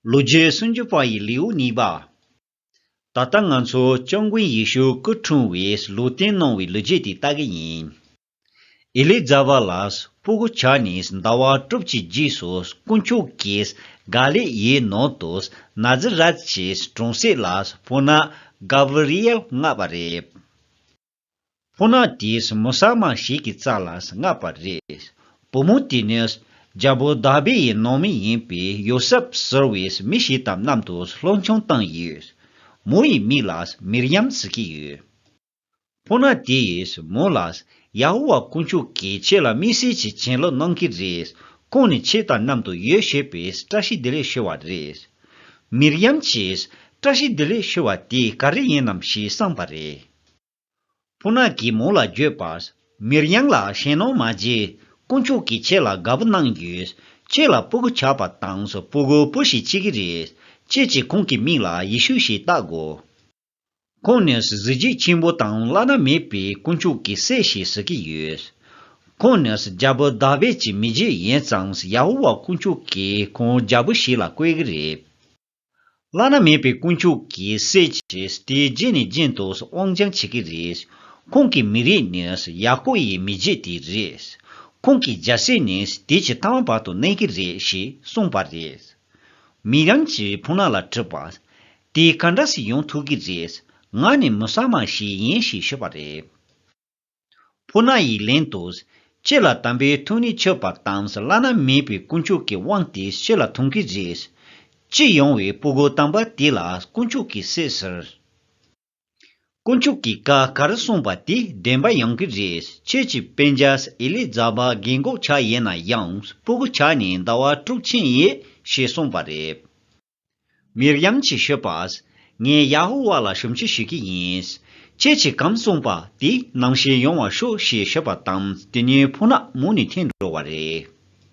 ལོ་རྒྱུས་སུམ་ཅུ་པ་ཡི་ལེའུ་གཉིས་པ། ད་ལྟ་ང་ཚོ་སྐྱབས་མགོན་ཡེ་ཤུ་སྐུ་འཁྲུངས་བའི་ལོ་སྟེང་གནང་བའི་ལོ་རྒྱུས་དེ་ལྟ་གི་ཡིན། ཨེ་ལི་ཛ་བྷ་ལགས་སྤུ་གུ་བྱ་ནས་ཟླ་བ་དྲུག་གི་རྗེས་སུ་དཀོན་མཆོག་གིས་ག་ལེ་ཡའི་ནང་དུ་ན་ཛི་རད་ཀྱི་གྲོང་གསེབ་ལ་སྤུ་ན་གཱ་བི་རི་ཡལ་མངགས་པ་རེད། ཁོ་ན་དེས་མོ་བསགས་མ་ཞིག་གི་རྩ་ལ་མངགས་པ་རེད། བུ་མོ་དེ་ནི། རྒྱལ་པོ་དཱ་བིད་ཡི་ནང་མི་ཡིན་པའི་ཡོ་སེབ་ཟེར་བའི་མི་ཞིག་དང་མཉམ་དུ་སློབ་ཆུང་བཏང་ཡོད། མོ་ཡི་མིང་ལ་མིར་ཡམ་ཟེར་གྱི་ཡོད། ཁོ་ན་དེས་མོ་ལ། ཡ་ཧོ་ཝཱ་དཀོན་མཆོག་གིས་ཁྱེད་ལ་དམིགས་བསལ་གྱི་བྱིན་རླབས་གནང་གི་རེད། ཁོང་ནི་ཁྱེད་དང་མཉམ་དུ་ཡོད་ཞེས་པའི་བཀྲ་ཤིས་བདེ་ལེགས་ཞུ་བ་རེད། མིར་ཡམ་གྱིས། བཀྲ་ཤིས་བདེ་ལེགས་ཞུ་བ་དེ་ག་རེ་ཡིན་ནམ་ཞེས་བསམས་པ་རེད། ཕུ་ནག་གིས་མོ་ལ་བརྗོད་པ། མིར་དབྱངས་ལགས་གཞན་ནོར་མ་བརྗེ། དཀོན་མཆོག་གིས་ཁྱེད་ལ་དགའ་པོ་གནང་རྒྱུ། ཁྱེད་ལ་སྤུ་གུ་ཆགས་པ་དང་སྤུ་གུ་སྤུ་ཞིག་བཅས་ཀྱི་རེད། ཁྱེད་ཀྱིས་ཁོང་གི་མིང་ལ་ཡེ་ཤུ་ཞེས་བཏགས་དགོས། ཁོང་ནི་གཟི་བརྗིད་ཆེན་པོ་དང་བླ་ན་མེད་པའི་དཀོན་མཆོག་གི་སྲས་ཞེས་ཟེར་གྱི་ཡོད། ཁོང་ནི་རྒྱལ་པོ་དཱ་བིད་ཀྱི་མི་རྗེ་ཡིན་ཙང་ཡ་ཧོ་ཝཱ་དཀོན་མཆོག་གིས་ཁོང་རྒྱལ་པོ་ཞིག་ལ་བསྐོས་ཀྱི་རེད། བླ་ན་མེད་པའི་དཀོན་མཆོག་གི་སྲས་ཀྱིས་དེའི་རྗེས་ནས་རྗེས་འདུག་དབང་སྦྱང་བྱེད་ཀྱི་རེད། ཁོང་གི་མི་རིགས་ནི་ཡ་ཀོ་ཡི་མི་རྗེ་དེ་རེད། ཁོང་གི་རྒྱལ་སྲས་ནི་དེ་ཇི་ལྟ་བ་བར་དུ་གནས་ཀྱི་རེད་ཞེས་གསུངས་པ་རེད། མི་རང་གི་བུ་ནག་ལ་དྲིས་པ། དེ་ག་འདྲ་ཞིག་ཡོང་ཐུབ་ཀྱི་རེད། ང་ནི་མུ་སཱ་མ་ཞིག་ཡིན་ཞེས་ཞུས་པ་རེད། ཕུ་ན་ཡིག་ལན་དུ། ཁྱེད་ལ་དམ་པའི་ཐུགས་ནི་ཆོད་པར་དམ་བླ་ན་མེད་པའི་དཀོན་མཆོག་གི་དབང་དེ་ཁྱེད་ལ་ཐོང་གི་རེད། ཅེས་ཡོང་བའི་སྤུ་གུ་དམ་པ་དེ་ལ་དཀོན་མཆོག་གིས་སྲས་ཟེར། དཀོན་མཆོག་གིས་བཀའ་ག་རེ་གསུངས་པ་དེ་བདེན་པ་ཡོང་གི་རེད་ཁྱེད་ཀྱི་དཔེ་འཇའ་ཨེ་ལི་ཛ་བྷ་རྒན་གོག་ཆགས་ཡས་ན་ཡང་སྤུ་གུ་ཆགས་ནས་ཟླ་བ་དྲུག་ཕྱིན་ཡས་ཞེས་གསུངས་པ་རེད། མིར་ཡམ་གྱིས་ཤོད་པ། ངས་ཡ་ཧོ་ཝཱ་ལ་ཞུམ་ཆུ་ཞུས་ཀྱི་ཡིན། ཁྱེད་ཀྱིས་གང་གསུངས་པ་དེ་ནང་བཞིན་ཡོང་བར་ཤོག་ཞེས་ཤོད་པ་དང་དེ་གཉིས་ཕུ་ནག་མོ་ནས་འཐེན་འགྲོ་བ་རེད།